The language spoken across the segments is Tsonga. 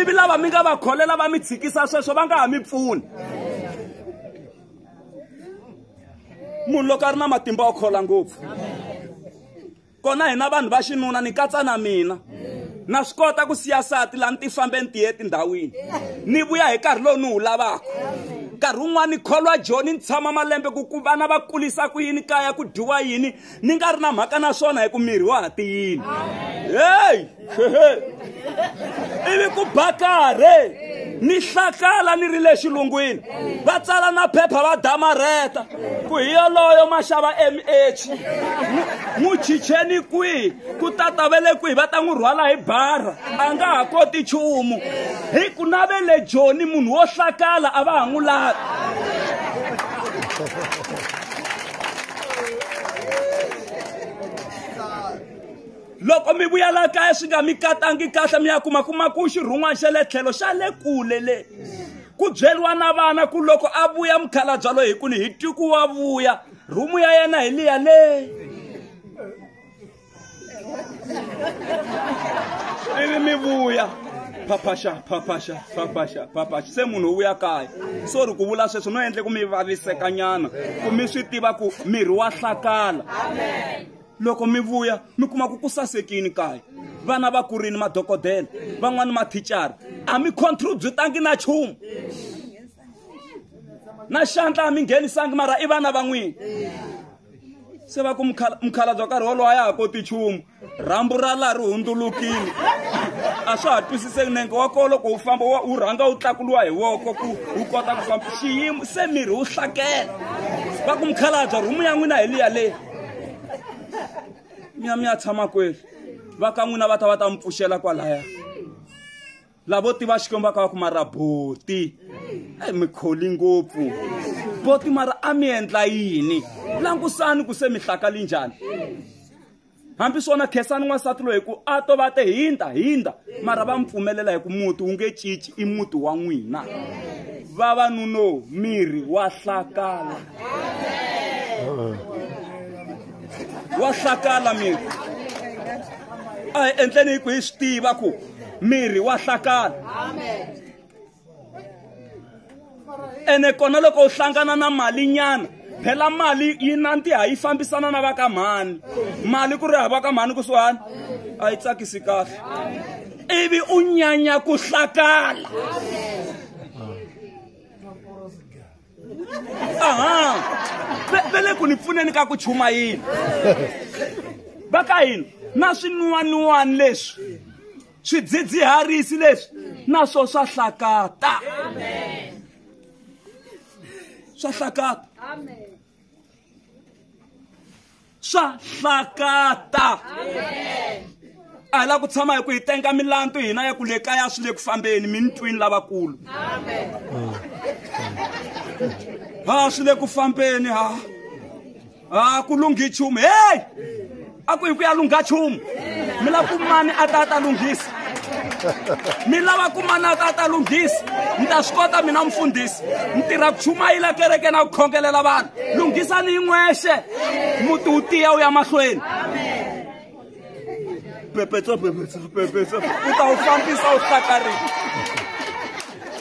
ivi lava mi nga va kholela va mi tshikisa sweswo va nga ha mi pfuni munhu loko a ri na matimba o khola ngopfu kona hina vanhu va xinuna ni katsa na mina na swi kota ku siya sati laha ni ti fambe ni tiye etindhawini ni vuya hi nkarhi lowu ni wu lavaka nkarhi wun'wana ni kholwa joni ni tshama malembe ku ku vana va kulisa ku yini kaya ku dyiwa yini ni nga ri na mhaka na swona hi ku miri wa ha tiyini heyi ivi ku bakare ni hlakala ni ri le xilungwini va tsala na phepha va damarheta ku hi yoloyo maxava mh n'wi chicheni kwihi ku tata ve le kwihi va ta n'wi rhwala hi bara a nga ha koti nchumu hi ku na ve le joni munhu wo hlakala a va ha n'wi lavi loko mi vuya la kaya swi nga mi katangi kahle mi ya kuma kuma ku xirhun'wana xa le tlhelo xa le kule le ku byeriwa na vana ku loko a vuya mukhalabya loyi hi ku ni hi tiku wa vuya rhumu ya yena hi liya leyi ivi mi vuya phaphaxa phaphaxa phaphaxa phaphaxa se munhu u vuya kaya so ri ku vula sweswo no endle ku mi vavisekanyana ku mi swi tiva ku miri wa hlakala loko mi vuya mi kuma ku ku sasekini kaya vana va kurini madokodela van'wani mathicara a mi contributangi na chumu na xandla a mi nghenisangi mara i vana van'wini se va ku mukhala- mukhalabye wa nkarhi wolowo a ya ha koti nchumu rhambu ra laha ri hundzulukile a swa ha twisiseki nenge wa kolo ku wu famba wa- wu rhanga wu tlakuriwa hi voko ku wu kota ku famba xiyimo se miri wu hlakela va ku mukhalabye rhumu ya n'wina hi liya leyi mi ya mi ya tshama kweli va ka n'wina va ta va ta mi pfuxela kwalaya lavo tiva xikwembu va ka va ku mara boti eyi mi kholi ngopfu boti mara a mi endla yini langusani ku se mi hlakali njhani hambi swona khesani n'wansati loyi ku a to va te hindza hindza mara va mi pfumelela hi ku muti wu nge cinci i muti wa n'wina vavanuno miri wa hlakala wa hlakala miri a hi endleni hi ku hi swi tiva ku mirhi wa hlakala ene kona loko u hlangana na mali nyana phela mali yi nantiha yi fambisana na va ka mhani mali ku ri hava ka mhani kusuhani a yi tsakisi kahle ivi u nyanya ku hlakala Amen. vele ku ni pfuneni ka ku chuma yini va ka hina na swin'waniwani leswi swidzidziharisi leswi na swo swa hlakata swa hlakata swa hlakata a hi la ku tshama hi ku hi tenga milandu hina ya ku le kaya swi le ku fambeni mi ni twini lavakulu ha swi le ku fambeni ha ha ku lunghi chumu heyi a ku hi ku ya lungha chumu mi la ku mani a ta a ta lunghisa mi lava ku manaka a ta lunghisa mi ta swi kota mina mufundhisi mi tirha ku chumayela kereke na ku khongelela vanhu lunghisani yi n'wexe muti wu tiya wu ya mahlweni pepetso pepetso pepetso u ta wu fambisa wu hlakarini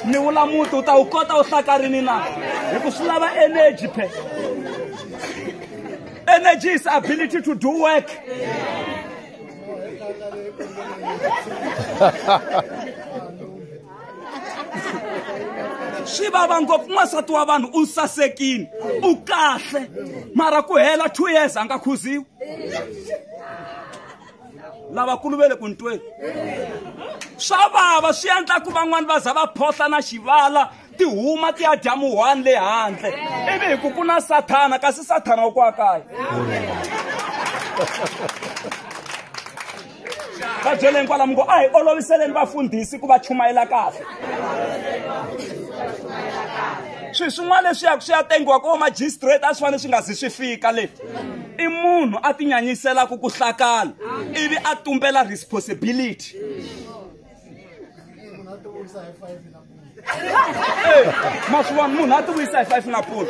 ni vula muti u ta wu kota wu hlakarini na hi ku swi lava energy phe energy is ability to do work yeah. swi vava ngopfu n'wansati wa vanhu u nsasekini u kahle mara ku hela two years a nga khuziwi lavakulu ve le ku ntweni swa vava swi endla ku van'wani va za va phohla na xivala ti huma ti ya dya muhwani le handle ivi hi ku ku na sathana kasi sathana wa kwa kaya va byeleni kwalamu ngo a hi oloviseleni vafundhisi ku va chumayela kahle swilo swin'wana leswi yaka swi ya tengiwa ko magistrate a swi fanele swi nga zi swi fika le i munhu a tinyanyiselaka ku hlakala ivi a tumbela responsibility munhu a ti vuyisa hi five na maswiwani munhu a ti vuyisa hi five na polo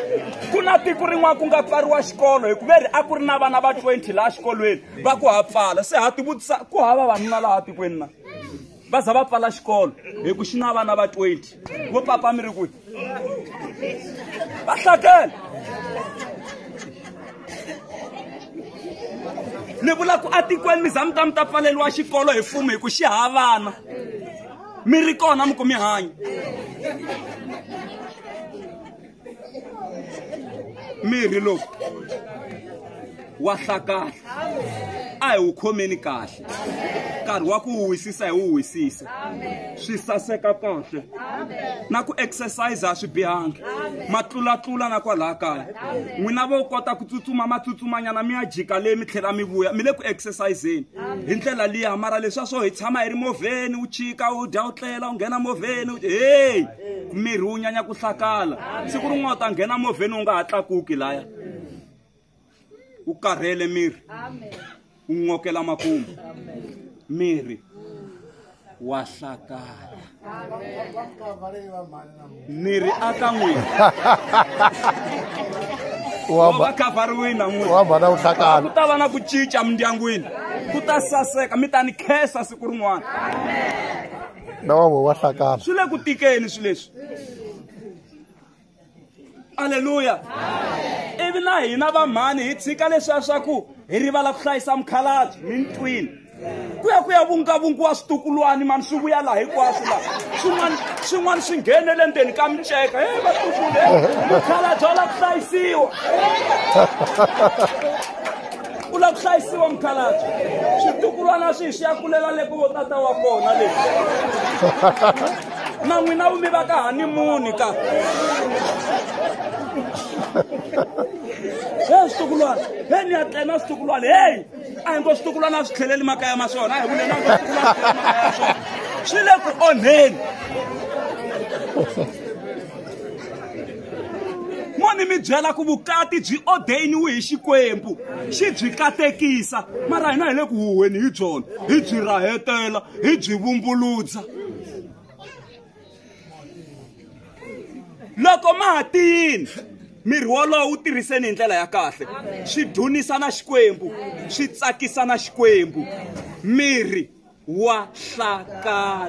ku na tiko rin'wana ku nga pfariwa xikolo hikuva ri a ku ri na vana va 20 laha xikolweni va ku ha pfala se ha ti vutisa ku hava vanuna laha tikweni na va za va pfala xikolo hi ku xi na vana va 20 vo papa mi ri kwi va hlakela ni vula ku atikweni mi za mi ta mi ta pfaleriwa xikolo hi fumo hi ku xi havana mi ri kona mi ku mi hanya mirhi lowu wa hlakahla a hi wu khomeni kahle nkarhi wa ku wu wisisa hi wu wisisa swi saseka kahle na ku exercise a swi bihangi ma tlulatlula na kwalaha kaya n'wina vo kota ku tsutsuma ma tsutsumanyana mi ya jika leyi mi tlhela mi vuya mi le ku exerciseni hi ndlela liya mara leswa swo hi tshama hi ri movheni u chika u dya u tlela u nghena movheni heyi miri wu nyanya ku hlakala siku rin'wana u ta nghena movheni wu nga ha tlakuki laya u karhele miri u n'okela makumu miri wa hlakala miri aka n'wini wa va khavhariwini na n'wini wa vana wu hlakala ku ta va na ku cinca mindyangwini ku ta saseka mi ta ni khensa siku rin'wana na wan'we wa hlakala swi le ku tikeni swi leswi aleluya ivi na hina vamhani hi tshika leswiya swa ku hi rivala ku hlayisa mukhalabye mintwini ku ya ku ya vungavungiwa switukulwani mani swi vuya laha hinkwaswo laha swin'wana swin'wana swi nghenele ndzeni ka miceka e vatukule mukhalabye wa la ku hlayisiwa u lava ku hlayisiwa mukhalabye switukulwana swi hi swi ya kulela le ku vo tata wa kona le na n'wina vumi va ka hanimuni ka he switukulwana he ni ya tlena switukulwana heyi a hi ngo switukulwana a swi tlheleli makaya ma swona a hi vuleni a ngo switukulwana swi le ku onheni mo ni mi byela ku vukati byi odeyiniwe hi xikwembu xi byi katekisa mara hina hi le ku huhweni hi byona hi byi rahetela hi byi vumbuludza loko ma ha tiyini miri wolowo wu tirhiseni hi ndlela ya kahle swi dunisa na xikwembu swi tsakisa na xikwembu miri wa hlakala